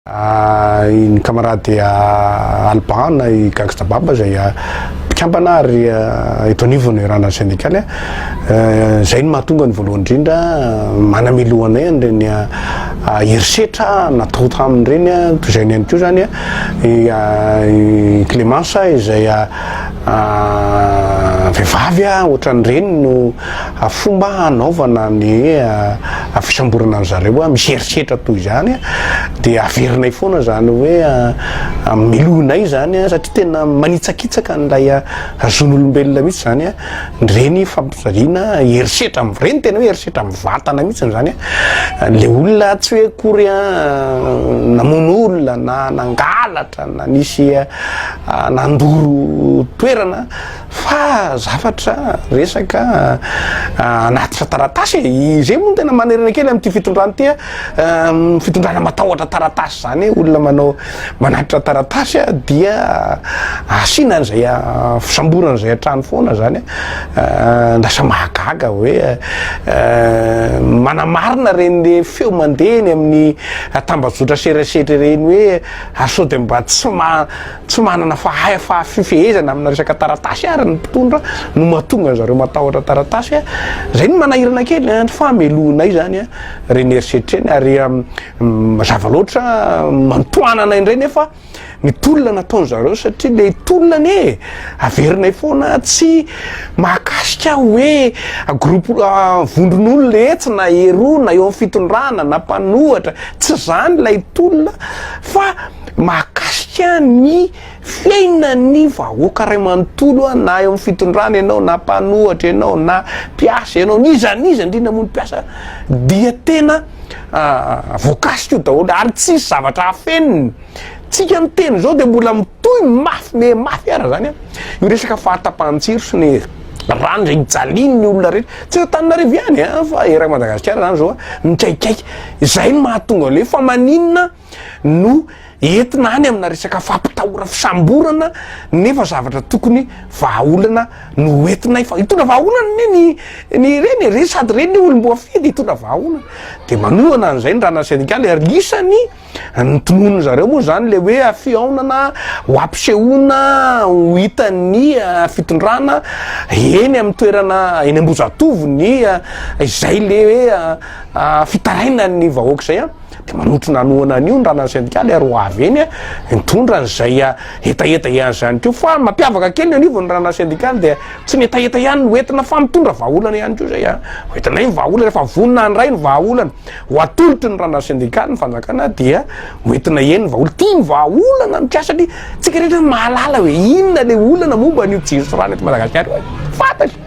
Ny kamarady Alban na i Gangsta Baba izay mpikambana ary eto anivon'ny Randrana Sendikaly. Izay no mahatonga ny voalohany indrindra manamelo anay an'ireny herisetra natao taminy ireny. Toy izay ihany koa izany i Clémence izay vehivavy ohatran'ny reniny no. A Fomba hanaovana ny hoe fisamborana an-dry zareo hoe misy herisetra toy izany dia averinay foana izany hoe melohinay izany satria tena manitsakitsaka an'ilay zon'olombelona mihitsy izany ireny fampijaliana herisetra am- ireny tena hoe herisetra amin'ny vatana mihitsy izany ilay olona tsy hoe akory namono olona na nangalatra na nisy nandoro toerana Fa zavatra, resaka hanatitra taratasy e! Izay moa no tena manerana kely amin'ity fitondrana ity a! Fitondrana matahotra taratasy izany e! Olona manao, manatitra taratasy a, dia asiana an'izay fisamborana an'izay hatrany foana izany a! Lasa mahagaga hoe manamarina ireny feo mandeha eny amin'ny tambajotra serasetra ireny hoe sao dia mba tsy ma. Tsy manana fahefafifehezana amina resaka taratasy ary ny mpitondra no mahatonga anzareo matahotra taratasy a! Zay no manahirana kely an! Fa melohinay zany a! Reny herisetra reny ary mazava loatra manotoana anay ndray nefa ny tolona nataonzareo satria le tolona anie averinay foana tsy mahakasika hoe groupe vondron'olona etsy na eroa na eo am fitondrana na mpanohatra tsy zany lay tolona fa mahakasika ny fiainan'ny vahoaka iray manontolo na eo amin'ny fitondrana ianao na mpanohatra ianao na mpiasa ianao n'iza n'iza indrindra moa ny mpiasa dia tena ah, voakasika io daholo ary tsisy zavatra hafeniny tsika ny teny izao dia mbola mitohy mafy me mafy ara zany a io resaka fahatapahan-tsiro sy ny rano izay hijalin'ny olona rehetra tsy tananarivo ihany a fa erak madagasikara zany zao a mikaikaiky izay ny mahatonga le fa maninona no entina any amina resaka fampitahora fisamborana nefa zavatra tokony vahaolana no entinay fa hitondra vahaolana ne ny ny reny e, reny sady reny ny olom-boafidy hitondra vahaolana de manohana an'izay ny rana sendikaly ary isany ny tononony zareo moa zany le hoe fihaonana ho ampisehoana ho hitan'ny ah, fitondrana eny amin'ny toerana eny ambozatovo ny ah, izay le hoe ah, ah, fitarainan'ny vahoaka izay a Dia manotrona hanohana an'io ny ranan'ny sendikaly ary ho avy eny hitondra an'izay hetaheta ihany izany koa. Fa ny mampiavaka kely ny anivon'ny ranan'ny sendikaly dia tsy ny hetaheta ihany no entina fa mitondra vahaolana ihany koa izay. Hoentinay ny vahaolana, rehefa vonona handray ny vahaolana ho atolotry ny ranan'ny sendikaly ny fanjakana dia hoentinay eny ny vahaolana. Tia ny vahaolana ny mpiasa satria isika rehetra mahalala hoe inona ilay olana momba an'io jiro sy rano eto Madagasikara io e! Fantatra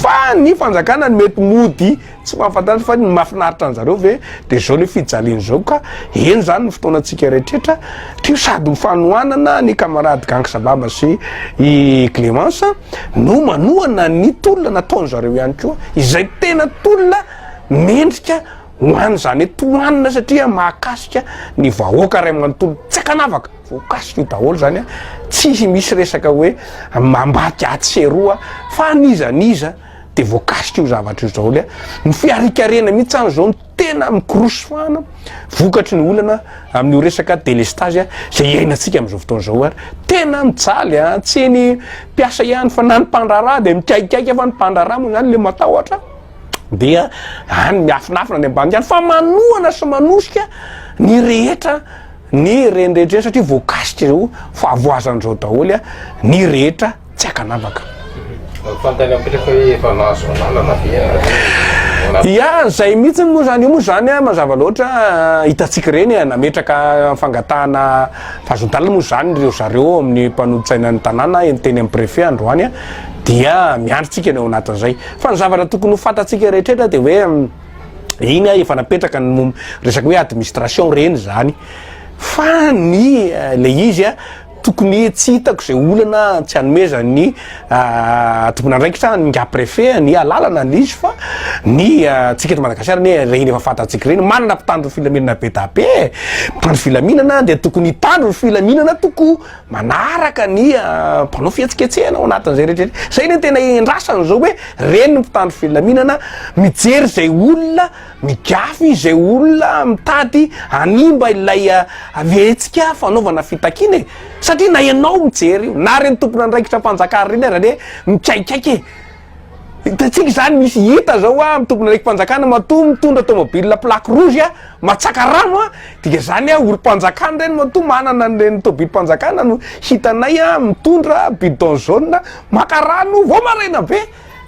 fa ny fanjakana no mety mody. Tsy mahafantatra fa ny mahafinaritra anjareo ve de zao le fijaliana zao ka eny zany ny fotoana tsika reetretra teo sady ho fanohanana ny camarade gang sababa sy i Clemence no manohana ny tolona nataony zareo ihany koa izay tena tolona mendrika ho any zany hoe tohanina satria mahakasika ny vahoaka ray manontolo tsy akanavaka voakasika io daholo zany a tsy misy resaka hoe mambadika atsy sy eroa fa an'iza an'iza dia voakasika io zavatra io zao le ny fiharikarena mihitsy any zao no tena mikorosy fana vokatry ny olana amin'io resaka delestage a zay iainantsika am'izao fotoana zao ary tena mijaly a tsy ny mpiasa ihany fa na ny mpandraharaha dia mikaikaika fa ny mpandraharaha moa zany le matahotra dia any miafinafina any ambany any fa manohana sy manosika ny rehetra ny renrehetra satria voakasika zao fahavoazan'izao daholo a ny rehetra tsy akanavaka. Fantany amin'ireo fa hoe efa nahazo alalana ve ianareo? Ia, izay mihitsy moa izany. Io moa izany an, mazava loatra, hitantsika ireny e, nametraka fangatahana fahazon-dalana moa izany ireo zareo ao amin'ny mpanolotsainan'ny tanàna eny teny amin'ny Préfet androany an, dia miandry tsika ny ao anatin'izay. Fa ny zavatra tokony ho fantatsika rehetrretra dia hoe iny an, efa napetraka ny momba resaka hoe administration ireny izany. Fa ny ilay izy an, Tokony tsy hitako izay olana tsy anomezan'ny tompon'andraikitra ny nga préfet ny alalana an'izy fa ny tsika eto Madagasikara anie ireny efa fantatsika ireny manana mpitandro ny filaminana be da be e! mpitandro filaminana dia tokony hitandro ny filaminana toko manaraka ny mpanao fihetsiketsehana ao anatin'izay rehetra izay izay no tena iandrasana izao hoe reny ny mpitandro filaminana mijery izay olona Migafy izay olona mitady hanimba ilay havetsika fanaovana fitakiana e! Satria na ianao mijery io, na ireny tompon'andraikitram-panjakana ireny ary anie mikaikaika e! Hitantsika izany, misy hita izao hoa amin'ny tompon'andraiki-panjakana matoa mitondra tomobilina plaque rouge a! Matsaka rano a! Dika izany hoe olom-panjakana ireny matoa manana an'ireny tomobilim-panjakana no hitanay a! Mitondra bidon jaune maka rano vao maraina be!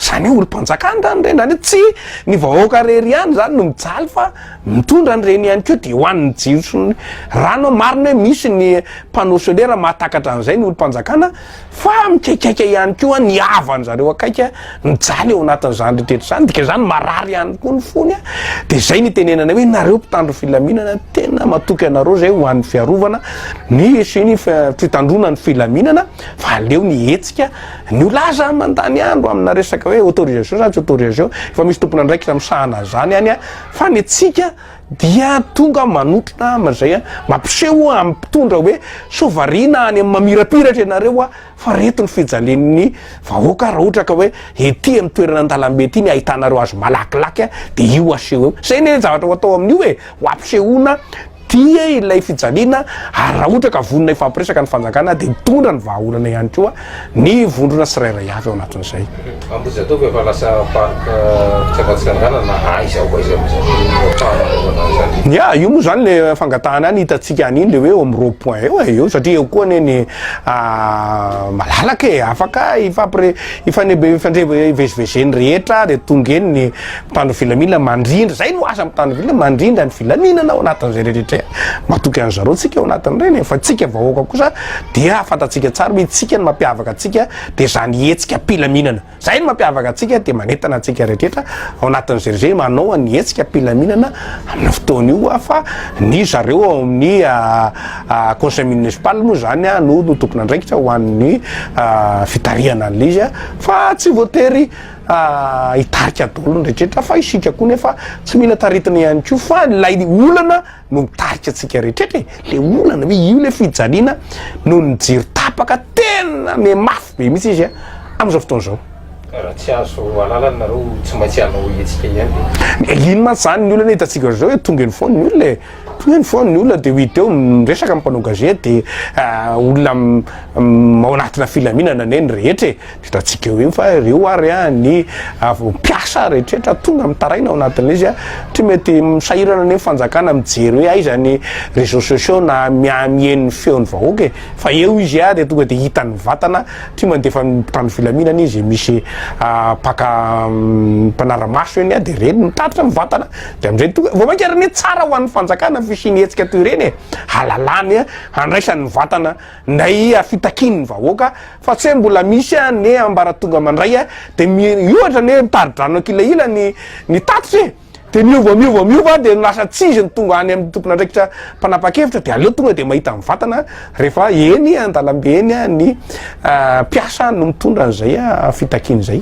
Zany hoe olom-panjakana zany ireny, zany hoe tsy ny vahoaka irery ihany zany no mijaly fa mitondra an'ireny ihany koa de ho an'ny jiro sy ny rano, marina hoe misy ny panneau solaire mahatakatra an'izay ny olom-panjakana fa mikaikaika ihany koa ny havany zareo akaiky mijaly eo anatin'izany rehetra izany, dikan'izany marary ihany koa ny fony a, de zay no itenenanay hoe nareo mpitandro filaminana tena matoky anareo zay ho an'ny fiarovana ny sy ny fitandroana ny filaminana. fa aleo ny hetsika ny ho lahy zany mandany andro amina resaka hoe autorisation zany tsy autorisation efa misy tompon'andraikitra misahana an'izany any a fa ny antsika dia tonga manotrona amin'izay a mampiseho amin'ny mpitondra hoe sao variana any amin'ny mamirapiratra ianareo a fa reto ny fijalian'ny vahoaka raha ohatra ka hoe ety amin'ny toerana an-dalambe ety ny ahitanareo azy malakilaky a dia io aseho eo izay ny zavatra ho atao amin'io e ho ampisehoana Dia ilay fijaliana, ary raha ohatra ka vonona hifampiresaka ny fanjakana dia mitondra ny vahaolana ihany koa ny vondrona tsirairay avy ao anatin'izay. Ambohijatovo efa lasa parc fitsangatsanganana na aiza ho aiza mihitsy no ahafahana manaovana an'izany eo. Ya, io moa izany ilay fangatahana ny hitantsika an'iny ilay hoe eo amin'ny rond point eo e, eo satria eo koa anie ny malalaka e, afaka hifampire- hifandre- hifandre- hivezivezen'ny rehetra dia tonga eny ny. Mpitandro filaminana mandrindra, zay no asa mpitandro filaminana, mandrindra ny filaminana ao anatin'izay rehetra e, matoky an'ny zareo tsika ao anatin'ireny e, fa tsika vahoaka kosa dia fantatsika tsara hoe tsika ny mampiavaka antsika dia zany hetsika mpilaminana, zay no mampiavaka antsika dia manentana antsika rehetra ao anatin'izay rehetra manao an'ny hetsika mpilaminana amin'io fotoana io a, fa ny zareo ao amin'ny conseil municipal moa zany a no tompon'andraikitra ho an'ny fitarihana an'ilay izy a, fa tsy voatery hitarika daholo ny rehetra fa isika koa nefa tsy mila taritina ihany koa fa lay olana no mitarika antsika rehetra e le olana hoe io le fijaliana no ny jiro tapaka tena me mafy be mihitsy izy a am'izao fotoana izao raha tsy azo alalana nareo tsy maintsy hanao hetsika ihany e iny mantsy zany ny olana hitantsika zao e tonga eny foana ny olona e tonga eny foana ny olona de ho hita eo miresaka ny mpanao gazety de ah, olona ao anatina filaminana anie ny rehetra e Hitantsika eo iny fa ireo ary ny avy mpiasa rehetra tonga mitaraina ao anatin'ilay izy satria mety misahirana ny fanjakana mijery hoe aiza ny réseaux sociaux na miha-miheno ny feon'ny vahoaka e! fa eo izy dia tonga dia hitan'ny vatana satria mandefa ny mpitandro filaminana izy misy mpaka mpanara-maso eny dia ireny mitatitra ny vatana dia amin'izay tonga vao mainka ary anie tsara ho an'ny fanjakana ny fisian'ny hetsika toy ireny e! hahalalany handraisany ny vatana Nahia fitakian'ny vahoaka fa tsy hoe mbola misy anie ambaratonga mandray dia miohatra anie mitari-drano an-kilahila ny ny tatitra e! dia miova miova miova dia lasa tsy izy no tonga any amin'ny tompon'andraikitra mpanapa-kevitra dia aleo tonga dia mahita mivantana rehefa eny an-dalambe eny ny mpiasa no mitondra an'izay fitakiana izay.